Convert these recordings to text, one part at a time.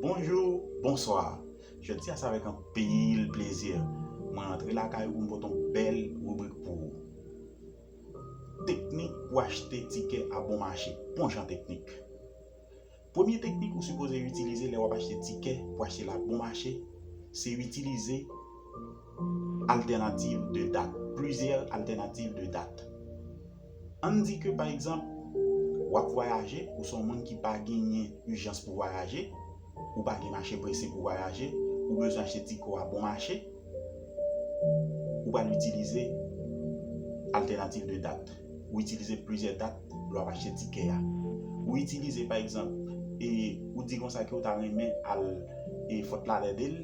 Bonjou, bonswa! Jodi a se avèk anpil plezi mwen antre lakay ou pou m pote yon bèl ribrik pou ou. Teknik pou achte tikè a bon mache, bon jan teknik. Premye teknik ou sipoze itilize lè w ap achte tikè pou achte l a bon mache, se itilize altènativ de dat, plizyè altènativ de dat. Ann di ke pa egzanp, w ap vwayaje, ou se yon moun ki pa genyen ijans pou vwayaje, ou pa gen mache prese pou vwayaje, ou bezwen achte ti kò a bon mache, ou pral itilize altènativ de dat. Ou itilize plizyè dat lè w ap achte tikè a. Ou itilize pa egzanp, e ou di konsa ke ou ta renmen al e Fòt Ladèdel,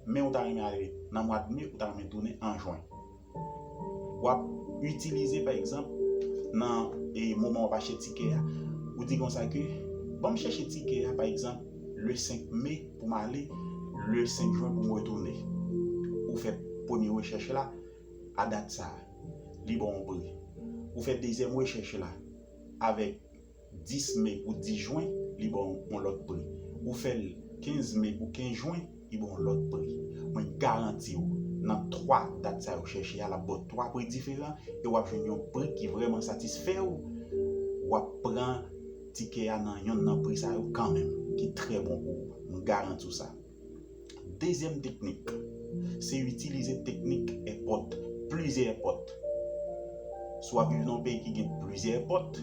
men ou ta renmen ale nan mwad Me, ou ta renmen tounen an Jwen. W ap itilize pa egzanp nan moman w ap achte tikè a, ou di konsa ke ban m chèche tikè a pa egzanp le 5 me pou m ale le 5 jwen pou m retounen. Ou fè premye rechèch la a dat sa a, li ba w yon pri. Ou fè dezyèm rechèch la avèk 10 me pou 10 jwen, li ba w yon lòt pri. Ou fè l 15 me pou 15 jwen, li ba w yon lòt pri. Mwen garanti w, nan 3 dat sa yo chèche a, l ap ba w 3 pri diferan e w ap jwenn yon pri ki vrèman satisfè w. W ap pran tikè a nan yonn nan pri sa yo kanmenm, ki trè bon pou ou. M garanti w sa. Dezyèm teknik, se itilize teknik èpòt, plizyè èpòt. Si w ap viv nan yon peyi ki gen plizyè èpòt,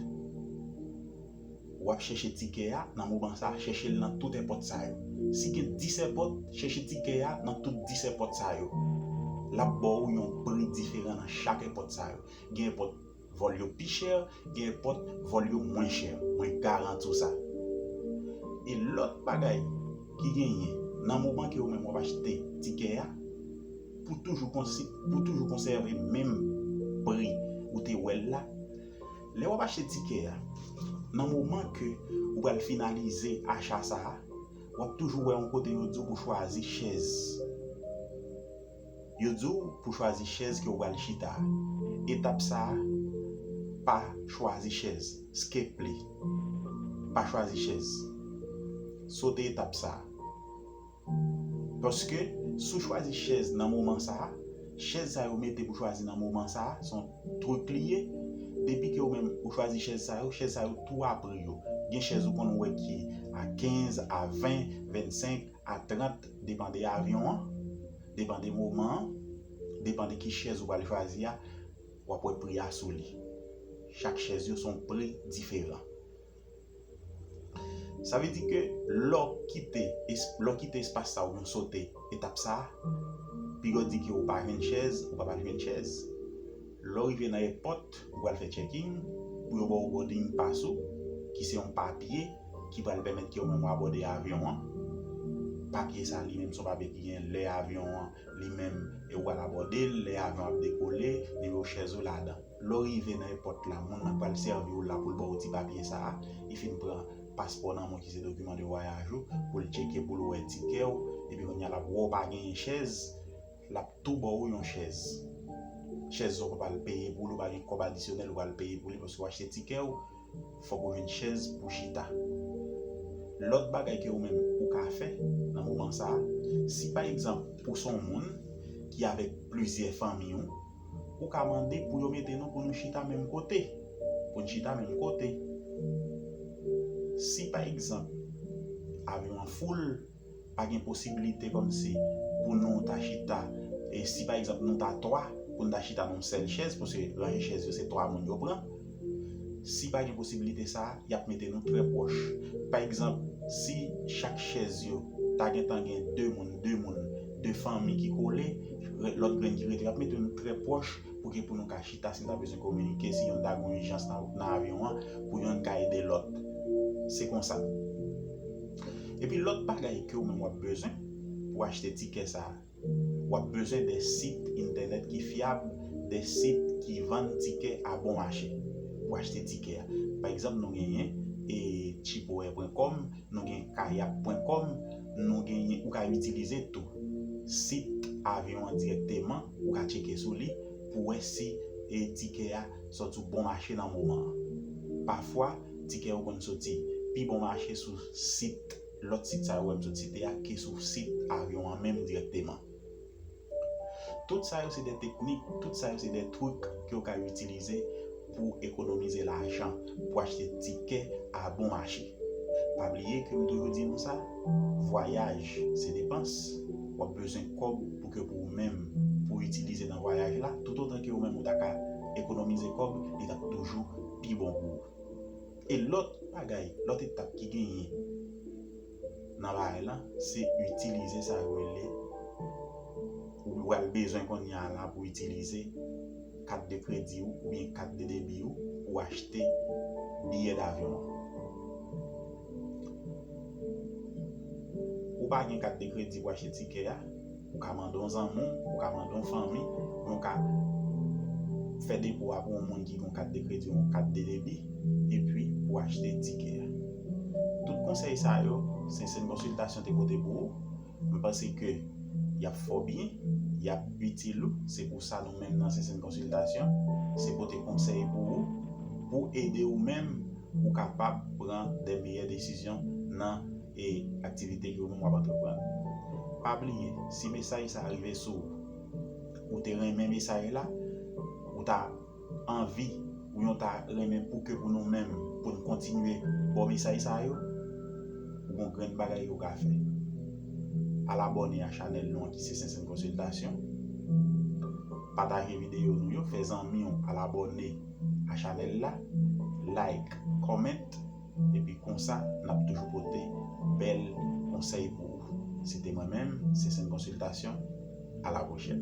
w ap chèche tikè a nan moman sa a, chèche l nan tout èpòt sa yo. Si gen 10 èpòt, chèche tikè a nan tout 10 èpòt sa yo. L ap ba w yon pri diferan nan chak èpòt sa yo. Gen èpòt. Vol yo pi chè, gen epòt vol yo mwen chè, mwen garanti w sa. E lòt bagay ki genyen, nan moman ke ou menm wap achte tikè a, pou toujou pou toujou konsève menm pri ou te wè l la, lè wap achte tikè a, nan moman ke ou pral finalize acha sa a, wap toujou wè yon kote yo di w pou chwazi chèz. Yo di w pou chwazi chèz ke w pral chita a. Etap sa a, Pa chwazi chèz, skple. Pa chwazi chèz. Sote etap sa a. Paske, si w chwazi chèz nan moman sa a, chèz sa yo mete pou chwazi nan moman sa a, se yon truc li ye. Depi ke ou menm ou chwazi chèz sa yo, chèz sa yo tou a pri yo. Gen chèz ou konn wè ki a 15, a 20, 25, A 30, Depan de avyon an, depan de moman an, depan de ki chèz ou pral chwazi a, w ap wè pri a sou li. Chak chèz yo se yon pri diferan. Sa vle di ke lè w kite, lè w kite espas sa oubyen w sote etap sa, pigè w di ke ou pa jwenn chèz, ou pa pral jwenn chèz. Lè w rive nan èpòt, ou pral fè checking pou yo ba w boarding pass ou ki se yon papye ki pral pèmèt ke ou menm ou abòde avyon an. Papye sa li menm se yon papye ki gen lè avyon an li menm e ou pral abòde l, lè avyon an ap dekole, nimewo chèz ou ladan. Lè w rive nan èpòt la, moun nan k pral sèvi w la pou l ba w ti papye sa a, li fin pran paspò nan men w ki se dokiman de vwayaj ou pou l cheke pou l wè tikè w epi kounye a l ap wè w pa genyen chèz, Lap tou ba ou yon chèz. Chèz sa ou pa pral peye pou li, ou pa gen kòb adisyonèl ou pral peye pou li paske ou achte tikè ou, fòk ou jwenn chèz pou chita. Lòt bagay ke ou menm ou ka fè nan moman sa, si pa egzanp ou se yon moun ki avèk plizyè fanmi ou, ou ka mande pou yo mete nou pou nou chita menm kote, pou n chita menm kote. Si pa egzanp avyon an foul, Pa gen posibilite kòmsi pou nou ta chita, si pa egzanp nou ta 3, pou n ta chita nan yon sèl chèz, paske ranje chèz yo se 3 moun yo pran. Si pa gen posibilite sa a, y ap mete nou trè pwòch. Pa egzanp, si chak chèz yo ta gen tan gen 2 moun, 2 moun, 2 fanmi ki kole, lòt grenn ki rete yo ap mete nou trè pwòch pou ke pou nou ka chita si n ta bezwen kominike, si youn ta gen yon ijans nan avyon an, pou youn ka ede lòt. Se konsa. Epi lòt bagay ke ou menm wap bezwen pou achte tikè sa a, wap bezwen de sit entènèt ki fyab, de sit ki vann tikè a bon mache pou achte tikè a. Pa egzanp nou genyen e Cheapoair pwen kòm, nou gen Kayak pwen kòm, nou genyen, ou ka itilize tou sit avyon an dirèkteman, ou ka tcheke sou li pou wè si e tikè a sòti ou bon mache nan moman an. Pafwa. Tikè yo konn soti pi bon mache sou sit lòt sit sa yo wè m sot site a ke sou sit avyon an menm dirèkteman. Tout sa yo se de teknik, tout sa yo se de trik ke w ka itilize pou ekonomize lajan, pou achte tikè a bon mache. Pa bliye ke m toujou di nou sa, vwayaj se depans, w ap bezwen kòb pou ke pou ou menm pou itilize nan vwayaj la, toutotan ke ou menm ou ta ka ekonomize kòb, li t ap toujou. pi bon gou a. E lòt bagay, lòt etap ki genyen nan bagay lan, se itilize sa yo rele, ou pral bezwen kounye a la pou itilize kat de kredi ou oubyen kat de debi ou pou achte biyè davyon an. Ou pa gen kat de kredi pou achte tikè a? Ou ka mande yon zanmi w, ou ka mande yon fanmi, ou ka fè depo a pou yon moun ki gen yon kat de kredi ou yon kat de debi, epi pou achte tikè a. Tout konsèy sa yo, Sentsene Consultation te pote pou ou, m panse ke y ap fè w byen, y ap itil ou, se pou sa nou menm nan Sentsene Consultation, se pote konsèy pou ou, pou ede ou menm pou kapab pran de meyè desizyon nan. e aktivite ke ou menm wap antreprann. Pa bliye si mesaj sa rive sou ou, ou te renmen mesaj la, ou ta anvi ou yon ta renmen pou ke pou nou menm pou nou kontinye baw mesaj sa yo, ou gon grenn bagay ke ou ka fè. Al abòne a chanèl nou an ki se Sentsèn Konsiltasyon, pataje videyo nou yo, fè zanmiw al abòne a chanèl la, like, comment. Epi konsa nap toujou pote bèl konsèy pou ou. Se te mwen menm, Sensen Konsiltasyon, a la pwochèn.